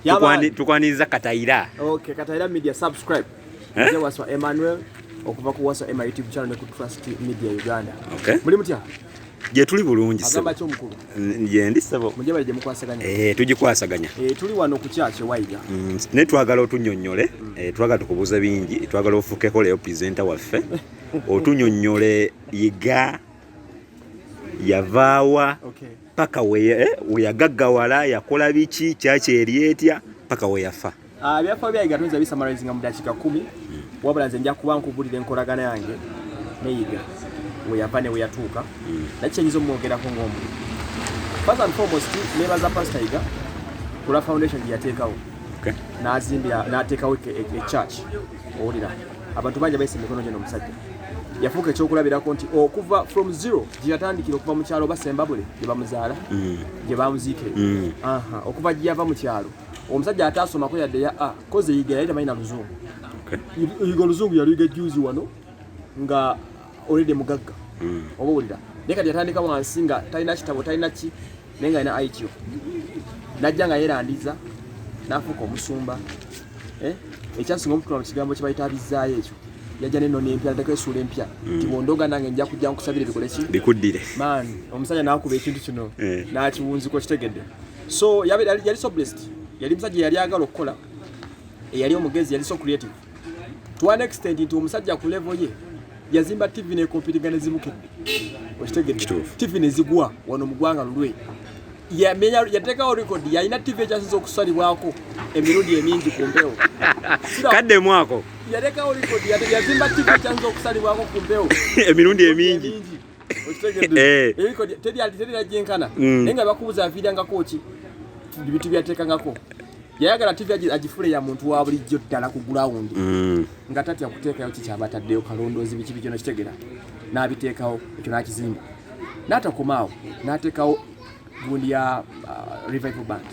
Tukwani tukwaniza Kataira. Okay, Kataira Media subscribe. Eh? Nze waswa Emmanuel okuva ku waswa Emma YouTube channel ne ku Trust Media Uganda. Okay. Muli mutya? Je tuli bulungi sebo. Agamba kyomukulu. Je ndi sebo. Muje bali je mukwasaganya. Eh, tujikwasaganya. Eh, tuli wano ku kyache waiga. Mm, ne twagala otunyonyole, mm. eh twagala tukubuza bingi, twagala ofuke ko leo presenter waffe. otunyonyole yiga yavaawa okay. paka weyagaggawala eh, yakola biki kyaki eri etya paka weyafa ah, ebyafaayo byange atunza bisamarizinga mu dakiika kumi wabula nze nja kuba nkubulira enkolagana yange neyiga weyava ne weyatuuka hmm. naki kyenyinza omwogerako ngaomu first and foremost nebaza pastor yiga kula foundation gyeyateekawo nazimbira nateekawo echurch e, e owulira abantu bangi bayisa emikono gyo nomusajja yafuuka ekyokulabirako nti okuva from zero gye yatandikira okuva mu kyalo oba sembabule gye bamuzaala mm. gye bamuziike mm. okuva gye yava mu kyalo omusajja ataasomako yadde ya a kozi eyiga yali tamanyi na luzungu eyiga oluzungu yali yiga juzi wano nga olede mugagga mm. oba owulira naye kati yatandika wansi nga talina kitabo talina ki naye nga alina ityo najja nga yerandiza nafuuka omusumba eh? ekyasinga omukulu mu kigambo kyebayita abizzaayo ekyo yajja neno nempya nteko esuula empya mm. tibondoga nange nja kujja nkusabire bikole ki bikuddire man omusajja nakuba ekintu kino eh. nakiwunziko kitegedde so yali so blessed yali musajja yali agala okukola eyali omugezi yali so creative to an extent nti omusajja ku level ye yazimba tv ne computer ne zibukidde okitegedde tv ne zigwa wano mu gwanga lulwe yamenya yatekawo record yalina tv ekyasinza okusalibwako emirundi emingi ku mpewo kadde mwako yatekawo record yazimba tv ekyasinza okusalibwako ku mpewo emirundi emingi okitegedde eh. record teri teri ajjenkana mm. naye nga bakubuza aviirangako ki bitu byatekangako yayagala tv agifule ya muntu wa bulijjo ddala ku gulawundi mm. nga tatya kuteekayo kikyaba ataddeyo kalondoozi biki biki nokitegera n'abiteekawo ekyo n'akizimba n'atakomaawo n'ateekawo gundi ya uh, revival band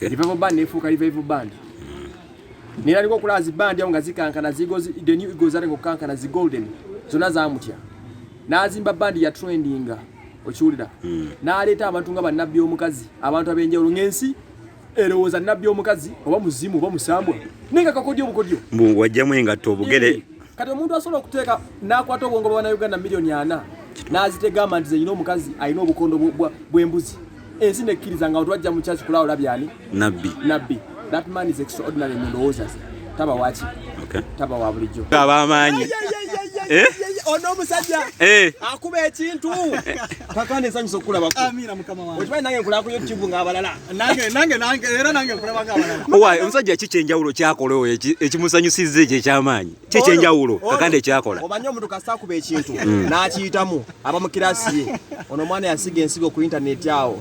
revival band nefuuka revival band mm. neraliko okulaba zi band awo nga zikankana the new egos aliko okukankana zi golden zonna zamutya n'azimba bandi ya trendinga okiwulira mm. n'aleeta abantu nga bannabbi omukazi abantu ab'enjawulo ng'ensi erowooza eh, nabbi omukazi oba muzimu oba musambwa naye nga kakodyo obukodyo mbu wajjamu engatto obugere eh, kati omuntu asobola okuteeka n'akwata obwongo bwa banauganda miliyoni ana n'azitegamba nti zeyina omukazi alina obukondo bw'embuzi ensi nekkiriza nga otwajja mu kyaki kulaawo labyani nabbi nabbi that man is extraordinary mu ndowooza ze taba waki okay. taba wa bulijjo taba amaanyi eh? ono omusajja eh. akuba ekintu kakana ensanyusa okukulabako okimanyi nange nkulaba ku youtube ngaabalala era nange nkulaba ngaabalala owaye omusajja ki kyenjawulo kyakola oyo ekimusanyusizza ekyo ekyamaanyi ki kyenjawulo kakana ekyakola omanyi omuntu kasita akuba ekintu mm. n'akiyitamu aba mu kirasi ye ono omwana yasiga ensigo ku intaneti awo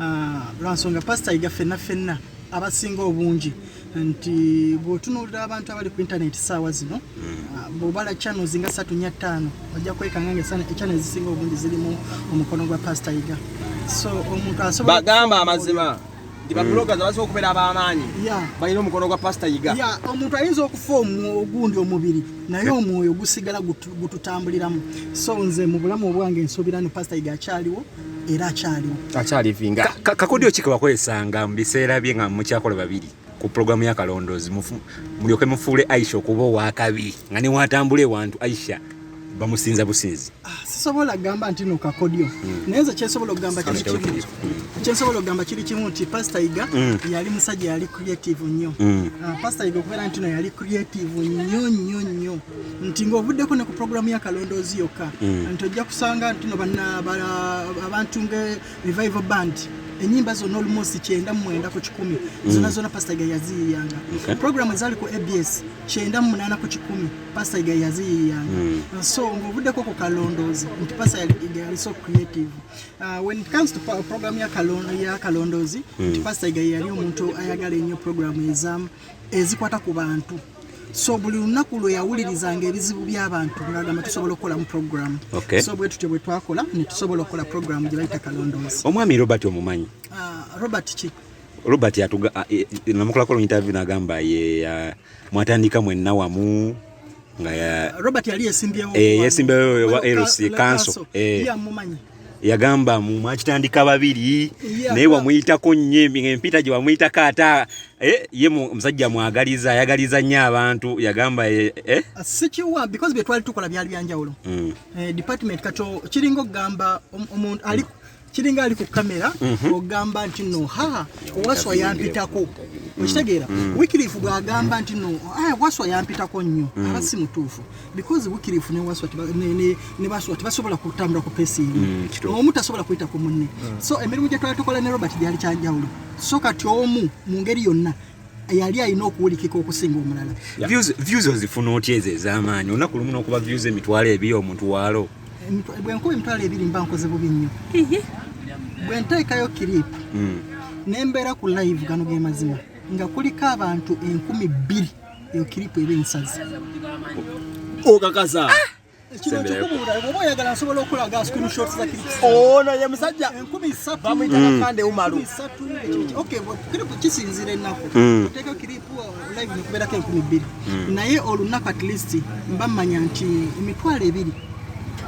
ah, lwansonga pasita yiga fenna fenna abasinga obungi nti bwotunulira abantu abali ku internet saawa zino hmm. ah, bwobala channels nga satu nya ttaano ojja kwekanga nga ekyana ezisinga obungi zirimu omukono gwa pasita yiga so omuntu asobola bagamba amazima nti babulogazi mm. abasobola okubeera ab'amaanyi balina omukono gwa pasita yiga omuntu ayinza okufa ogundi omubiri naye omwoyo gusigala gututambuliramu so nze mu bulamu obwange nsuubira ni pasita yiga akyaliwo era akyaliwo akyalivinga kakodyo ki kewakozesanga mu biseera bye nga mukyakola babiri ku pulogulaamu ya kalondoozi mulyoke mufuule aisha okuba owakabi nga newatambula ewantu aisha bamusinza businzi ah, sisobola kugamba nti no kakodyo hmm. naye nze kyensobola okugamba kiri kimu hmm. kyensobola okugamba kiri kimu nti pasita yiga hmm. yali musajja yali creative nnyo ah, pasita yiga okubeera nti no yali creative nnyo nnyo nnyo nti ng'ovuddeko ne ku pulogulaamu ya kalondoozi yokka mm. nti ojja kusanga ntino abantu nga revival band enyimba zona olumosi kyenda mumwenda ku kikumi mm. zona zona pasitaiga yaziyiyanga pulogulaamu ezaali ku abs kyenda mumunana ku kikumi pasitaiga yaziyiyanga mm. so ng'ovuddeko ku kalondoozi nti pasitaiga yali so creative uh, when it comes to program ya kalondoozi nti pasitaiga yali omuntu ayagala ennyo pulogulaamu ezamu ezikwata ku bantu so buli lunaku lwe yawulirizanga ebizibu by'abantu ngagamba tusobola okukolamu programu so bwe tutyo bwe twakola ne tusobola okukola programu gye bayita kalondoozi omwami robert omumanyi ah, robert ki robert atuga ah, eh, eh, namukolako lu interview nagamba ye ah, mwatandika mwenna wamu nga ya Robert yali yesimbyewo eh yesimbyewo wa LC council eh ya mumanyi yagamba mu mwakitandika babiri naye wamuyitako nnyo empita gye wamuyitako ata eh, ye musajja mwagaliza ayagaliza nnyo abantu yagamba eh, eh? Ah, sikiwa because bye twali tukola byali byanjawulo mm. department kato kiringa okugamba omuntu ali kiringa ali ku kamera mhm. ogamba nti no ha waswa yampitako okitegeera mm, mm. wikirifu bwagamba nti no ah, waswa yampitako nnyo mm. aba si mutuufu because wikirifu ne baswa tebasobola kutambula ku pesi emu omu tasobola kuyita ku munne so emirimu gyetwali tukola ne robert gyali kyanjawulo so kati omu mu ngeri yonna yali alina okuwulikika okusinga omulala views ozifuna otya ezo ez'amaanyi olunaku lumu n'okuba views emitwalo ebiri omuntu waalo bwenkuba emitwalo ebiri mba nkoze bubi nnyo bwe nteekayo kiripu hmm. ne mbeera ku live gano ge mazima nga kuliko abantu enkumi bbiri eyo kiripu eba ensazi okakasa ah! ono ye musajja bamuyitagakande umalu kisinzira ennaku oteeka kiripu live nekubeerako enkumi bbiri naye olunaku at least mba mmanya nti emitwalo ebiri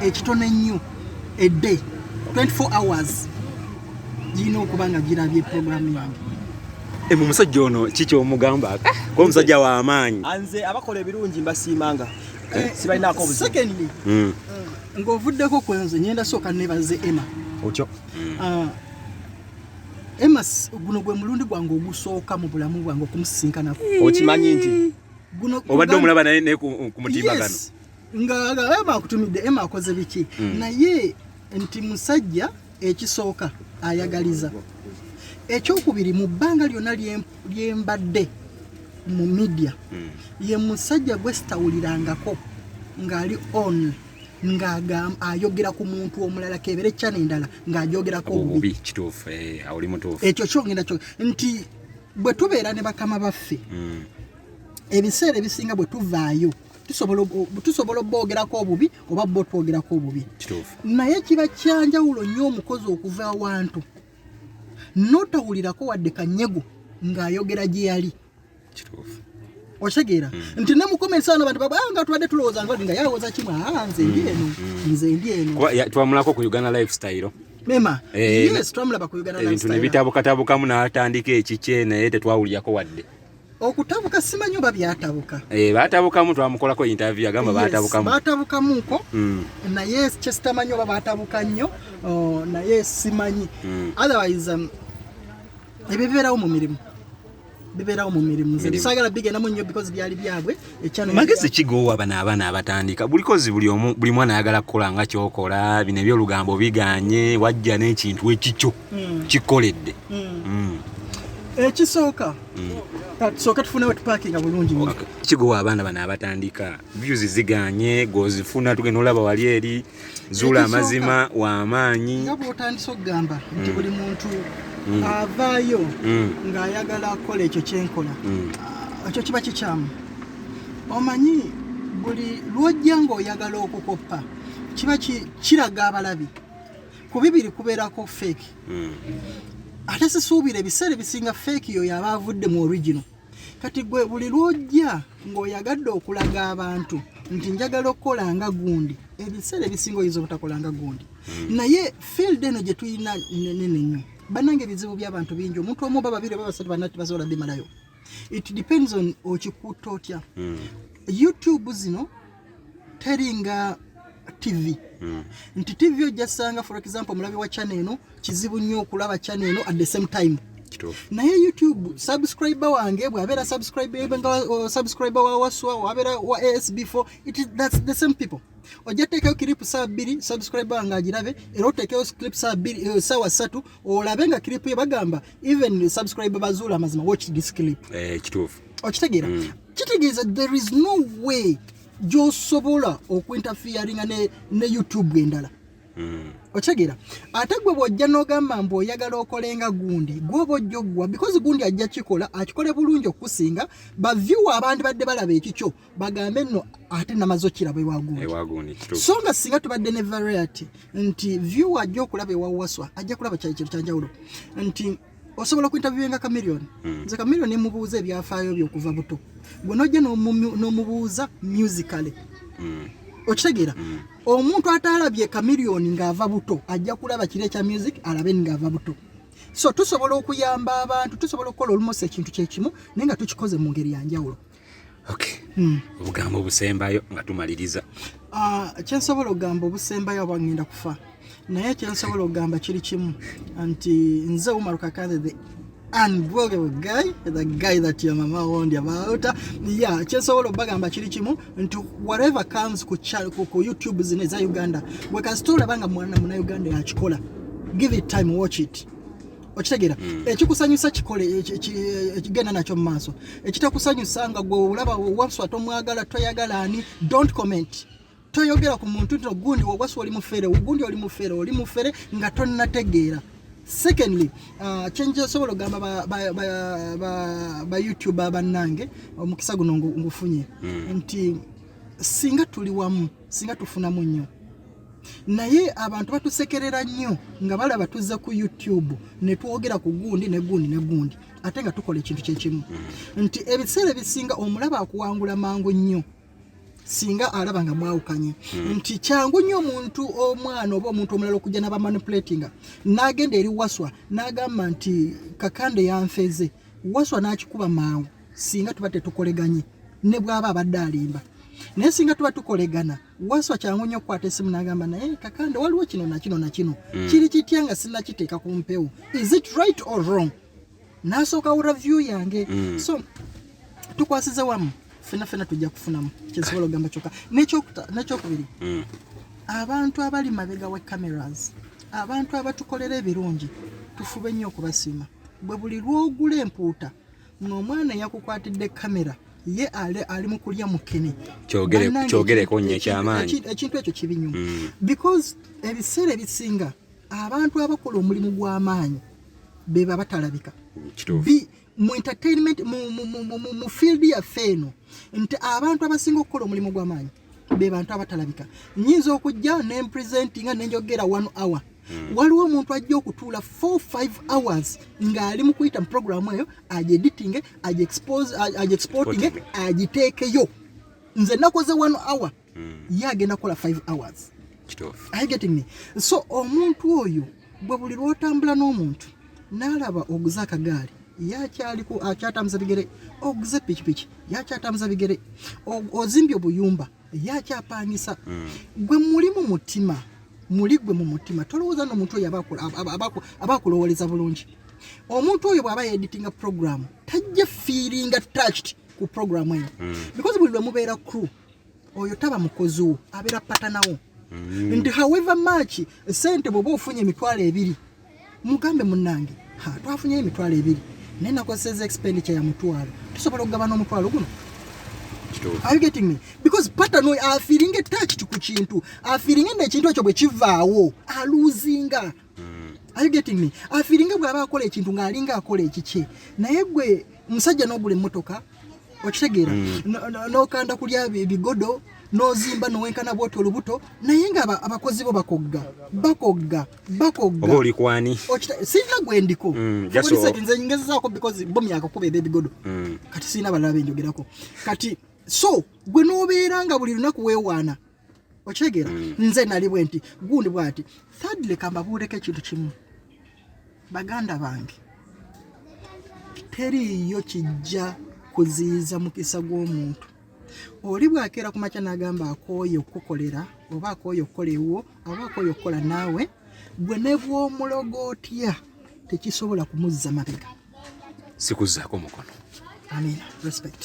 ekitono ennyo edde 24 hours girina okuba nga girabye programu yange eh, mu musajja ono kiki omugamba ah, kuba omusajja w'amaanyi nze abakola ebirungi mbasiimanga eh, sibalinaako obuzibu secondly mm. eh, ng'ovuddeko ku nze ngenda sooka nebaze emma otyo mm. ah, emma guno gwe mulundi gwange ogusooka mu bulamu bwange okumusisinkanako okimanyi nti obadde omulaba naye ne ku mutimba gano nga ema akutumidde ema akoze biki mm. naye nti musajja ekisooka ayagaliza ekyokubiri mu bbanga lyonna lyembadde mu media hmm. ye musajja gwe sitawulirangako ng'ali on ng'ayogera ku muntu omulala kebere kyana endala ng'ajogerako obubi kituufu eh, oli mutuufu ekyo kyongenda kyo nti bwe tubeera ne bakama baffe hmm. ebiseera ebisinga bwe tuvaayo tusobola oboogerako obubi oba bo twogerako obubi naye kiba kyanjawulo nnyo omukozi okuva awantu notawulirako wadde kanyego ng'ayogera gye yali otegeera hmm. nti nemukomensaano bantu baba ah, nga tubadde tulowooza nga nga yalowooza kimu aa ah, nze ndi hmm. eno hmm. nze ndi eno twamulako ku uganda lifestyle mema eh, yes twamulaba ku uganda lifestyle ebintu nebitabukatabukamu n'atandika ekikye naye tetwawulirako wadde okutabuka simanyi oba byatabuka eh, batabukamu twamukolako interview agamba batabukamu batabukamuko mm. naye kyesitamanyi oba batabuka nnyo oh, naye simanyi mm. otherwise um, ebyo bibeerawo mu mirimu bibeerawo mu mirimu sagala bigendamu nnyo because byali byabwe magezi kigowa bano abaana abatandika bulikozi buli mwana ayagala kukola nga kyokola bino ebyolugambo biganye wajja n'ekintu ekikyo mm. kikoledde mm. ekisooka tusooke tufunewo tupakinga bulungi kigowa abaana bano abatandika views ziganye gwozifuna tugenda olaba wali eri zuula amazima wamaanyi nga bwotandisa okugamba nti buli mm. muntu mm. avaayo mm. ng'ayagala akola ekyo kyenkola ah, ekyo kiba kikyamu omanyi buli lwojja ng'oyagala okukoppa kiba kiraga abalabi ku bibiri kubeerako fake mm. ate sisuubira ebiseera ebisinga feeki yo yaba avudde mu original kati gwe buli lwojja ng'oyagadde okulaga abantu nti njagala okukola nga gundi ebiseera ebisinga oyinza obutakola nga gundi hmm. naye field eno gye tulina nene nnyo banange ebizibu by'abantu bingi omuntu omu oba babiri oba basatu banati basobola bimalayo it depends on okikuuta otya hmm. youtube zino teringa TV mm. nti TV ojja sanga for example mulabi wa channel eno kizibu nnyo okulaba channel eno at the same time naye youtube subscribe wange bwabera subscribe nga uh, subscribe wa waswa wabera wa asb4 it is that's the same people ojja teekayo kiripu saa bbiri subscribe wange agirabe era oteekeyo clip saa bbiri eh, saawa ssatu olabe nga kiripu ye bagamba even subscribe bazuula amazima watch this clip eh, kituufu okitegeera mm. kitegeeza there is no way gyosobola okuinterferinga ne, ne youtube endala mm. okitegeera ate gwe bwojja nogamba mbu oyagala okolenga gundi gwoba ojja oggwa because gundi ajja kikola akikole bulungi okukusinga baviewa abandi badde balaba ekikyo bagambe nno ate namaze okiraba ewagundi so nga singa tubadde ne variety nti viewa ajja okulaba ewawaswa ajja kulaba kyali kintu kyanjawulo nti osobola okuintaviwenga kamiliyoni hmm. nze kamiliyoni nemubuuza ebyafaayo byo okuva buto gwe nojja nomubuuza musically hmm. okitegeera hmm. omuntu atalabye kamiliyoni ng'ava buto ajja kulaba kiro ekya music alabe ng'ava buto so tusobola okuyamba abantu tusobola okukola olumosi ekintu kyekimu naye nga tukikoze mu ngeri yanjawulo okay. mm. obugambo obusembayo nga tumaliriza uh, kyensobola okugamba obusembayo aba ngenda kufa naye kyensobola okugamba kiri kimu nti nze umaru kakathe the unbroken guy the guy that your mama warned you about yeah kyesobola obagamba kiri kimu nti whatever comes ku, ku, ku youtube zino eza uganda wekasitolabanga mwana muna uganda yakikola give it time watch it okitegeera mm. ekikusanyusa kikole ekigenda nakyo mu maaso ekitakusanyusa nga gwe olaba waswa tomwagala toyagala ani don't comment toyogera ku muntu nti ogundi waswa oli mufere ogundi oli mufere oli mufere nga tonnategeera secondly uh, kyenjasobola okugamba ba youtube abannange omukisa guno ngufunye mm. nti singa tuli wamu singa tufunamu nnyo naye abantu batusekerera nnyo nga balaba tuzze ku youtube netwogera ku gundi ne gundi ne gundi ate nga tukola ekintu kyekimu mm. nti ebiseera ebisinga omulaba akuwangula mangu nnyo singa alaba nga mwawukanye mm. nti kyangu nnyo omuntu omwana oba omuntu omulala okujja nabamanipulatinga nagenda eri waswa nagamba nti kakande yanfeze waswa nakikuba mangu singa tuba tetukoleganye ne bwaba abadde alimba naye singa tuba tukolegana waswa kyangu nnyo okukwata esimu nagamba naye kakande waliwo kino nakino nakino mm. kiri kitya nga sinakiteeka ku mpewo is it right or wrong nasooka wura view yange mm. so tukwasize wamu fena fena tujja kufunamu kyensobola ogamba kyoka nekyokubiri mm. abantu abali mabega wa cameras abantu abatukolera ebirungi tufube nnyo okubasiima bwe buli lwogula empuuta omwana yakukwatidde kamera ye ali mu kulya mukene kyogereko nnyo ekyamaanyi ekintu ekyo kibi nnyo mm. because ebiseera ebisinga abantu abakola omulimu gw'amaanyi beba batalabika mu entertainment mu field yaffe eno nti abantu abasinga okukola omulimu gw'amaanyi be bantu abatalabika nyinza okujja ne presentinga ne njogera 1 hour mm. waliwo omuntu ajja okutuula 4 5 hours ng'ali mu kuyita mu programu eyo agyeditinge agyexportinge agiteekeyo nze nakoze 1 hour mm. ye agenda kukola 5 hours I getting me so omuntu oyo bwe buli lwotambula n'omuntu n'alaba oguze akagaali yakyaliko akyatambuza bigere oguze pikipiki yakyatambuza bigere ozimbye obuyumba yakyapangisa hmm. gwe muli mu mutima muli gwe mu mutima tolowooza nomuntu oyo abakulowoleza bulungi omuntu oyo bwaba yeditinga program tajja feelinga touched ku program eyo hmm. because buli lwe mubeera crew oyo taba mukozi wo abeera patanawo mm. nti however much sente bwoba ofunye emitwalo ebiri mugambe munange twafunye emitwalo ebiri naye nakozeseza expenditure ya mutwalo tusobola okugabana omutwalo guno Are you getting me? Because pattern we are feeling attached ku kintu. Are feeling nti ekintu ekyo bwe kivaawo, aluzinga. mm. are you getting me afiringa bwaba akola ekintu nga alinga akola ekikye naye gwe musajja nogula emotoka okitegeera mm. nokanda no, kulya bigodo nozimba nowenkana bwoti olubuto naye nga abakozi bo bakogga bakogga bakogga olikwani sirina gwendiko mm, nze ngezezaako because bo myaka kuba ebe ebigodo mm. kati sirina balala benjogerako kati so gwe nobeera nga buli lunaku wewaana okitegeera mm. nze nali bwe nti gundi bwati thirdly kambabuuleko ekintu kimu baganda bange teriiyo kijja kuziyiza mukisa gw'omuntu oli bwakeera ku makya n'agamba akooye okukukolera oba akooye okukola ewuwo oba akooye okukola naawe gwe ne bw'omulogo otya tekisobola kumuzza mabega sikuzaako mukono amina respect